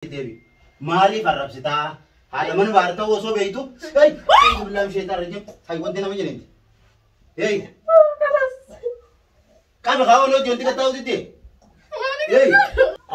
deebi. Maaliif arrabsitaa? Haadha mana baar ta'uu osoo beektu. Hey! Hey! Billaam sheetaa irra jim. Hay wanti nama jenenti. Hey! Qabi haa ooloo jonti kattaa hojjette. Hey!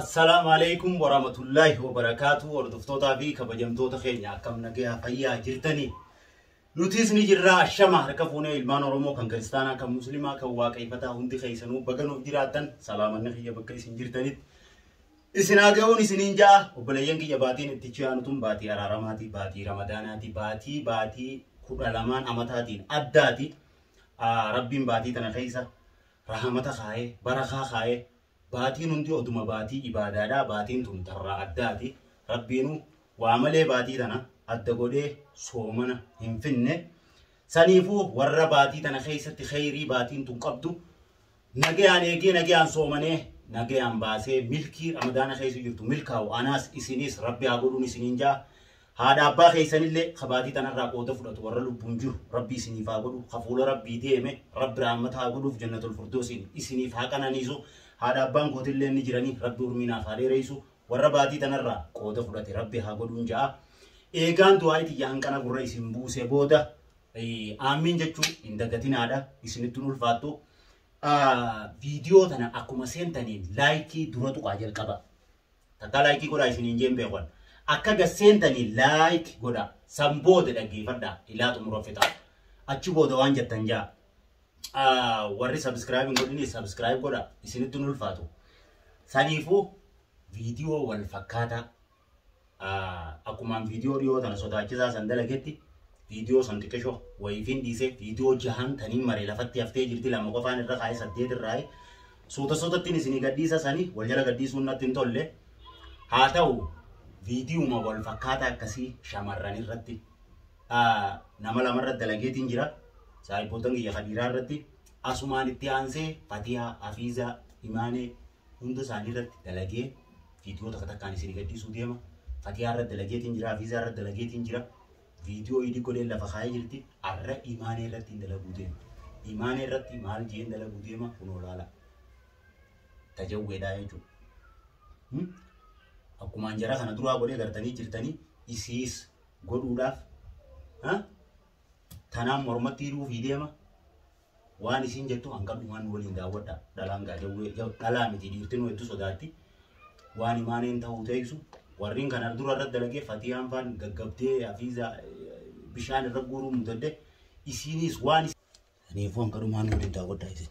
Assalaamu alaikum warahmatullahi wabarakaatu hordoftootaa fi kabajamtoota keenya akkam nagaa fayyaa jirtanii nutis ni jirra ashama harka fuunee ilmaan oromoo kan kiristaanaa kan muslimaa kan waaqayfataa hundi keessanuu baga nuuf jiraattan salaamanni kiyya bakka isin jirtanitti Isin haa ga'uun isiniin ja'a. Obboleeyyan kiyya baatiin itti ichi aanu tun baatii araaramaatii, baatii ramadaanaatii, baatii baatii kudha lamaan amataatiin addaati. Ah, Rabbiin baatii tana keessa rahamata kaa'ee, barakaa kaa'ee, baatiin hundi oduma baatii ibaadaadha. Baatiin tun tarraa addaati. Rabbiinu waa malee baatii tana adda godhee soomana hin finne. Saniifuu warra baatii tana keessatti kheyrii baatiin tun qabdu Nagayaan eegee nagayaan soomanee nagayaan baasee milkii ramadaana keessa jirtu milkaa'u anaas isinis rabbi haa godhuun isiniin jaa haadha abbaa keessanillee kabaatii tanarraa qooda fudhatu warra lubbuun jiru rabbi isiniif haa godhu kafuula rabbii deeme rabbi raammata haa godhuuf jannatul furdoosiin isiniif haa qananiisu haadha abbaan kootillee ni jiranii rabbi urmiinaaf haa dheereessu warra baatii tanarraa qooda fudhate rabbi haa godhuun ja'a eegaan du'aayi tiyya hanqana gurra isin buuse booda aammiin jechuu hin dagatinaadha isinitti hin ulfaattu. Viidiyoo tana akkuma seentaniin laayikii dura tuqaa jalqaba. Takkaa laayikii godhaa isiniin jeen beekuun. Akka gad seentaniin laayik godhaa. San booda dhaggeeffadhaa ilaa xumura fixaa. Achi booda waan jettan jaa. Warri sabiskiraayib hin godhine sabiskiraayib godhaa isinitti hin ulfaatu. Saniifuu viidiyoo wal fakkaataa Akkumaan viidiyoo dhiyoo tana sodaachisaa san dalagetti viidiyoo san xiqqishoo wayiifiin dhiisee viidiyoo jahan taniin mare lafatti haftee jirti lama qofaan irra kaa'ee saddeet irraa suuta suutattiin isinii gadhiisa sanii wal jala gadhiisuun natti hin tolle haa ta'u viidiyuma wal fakkaataa akkasii shamarran irratti nama lama irratti dalageetiin jira saahibboottan kiyya kadiiraa irratti asumaan itti aansee fatiyaa afiizaa imaanee hunda isaanii irratti dalagee viidiyoo takka takkaan isin gadhiisuu deema. Fatiyaa irratti dalageetiin jira, Hafiizaa irratti dalageetiin jira. Viidiyoo idii godheen lafa kaa'ee jirti. Arra imaanee irratti hin dalaguu deema. Imaanee irratti maal jeen dalaguu deema kunoo laala. Tajawweedhaa jechuudha. Hmm? Akkuma anjara kana duraa godhee gartanii jirtanii isiis godhuudhaaf ha? tanaan mormatti hidhuuf deema. Waan isiin jettu hanqan dhumaan nu waliin daawwadha. Dhalaan gaa jawwee jaw- dhalaa miti dhiirtinuu hedduu sodaatti. Waan imaaneen ta'uu teeysu. Warriin kan ardura irratti dalagee fatiyaan faan gaggabdee hafiiza bishaan irra guuruu mudadde. Isiiniis waan is- Kanaafuu hanqan dhumaan nu waliin daawwadha isin.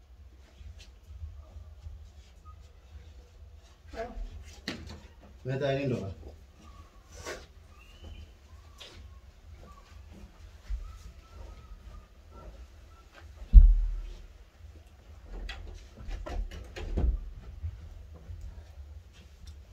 Meta ini dong.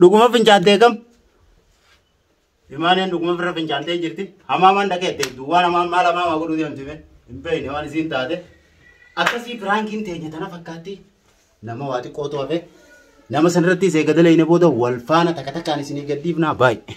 Dhuguma fincaattee kam? Imaaneen dhuguma firra fincaattee jirti. Hamaamaan dhaqeette duwwaan hamaan maal hamaamaa godhuu deemti mee? Hin beekne waan isiin taate. Akkasii firaankiin teenya tana fakkaatti. Nama waa xiqqoo to'ate. Nama sanarratti isee gada leeyne booda wal faana takka takkaan isinii gaddiifnaa baay'ee.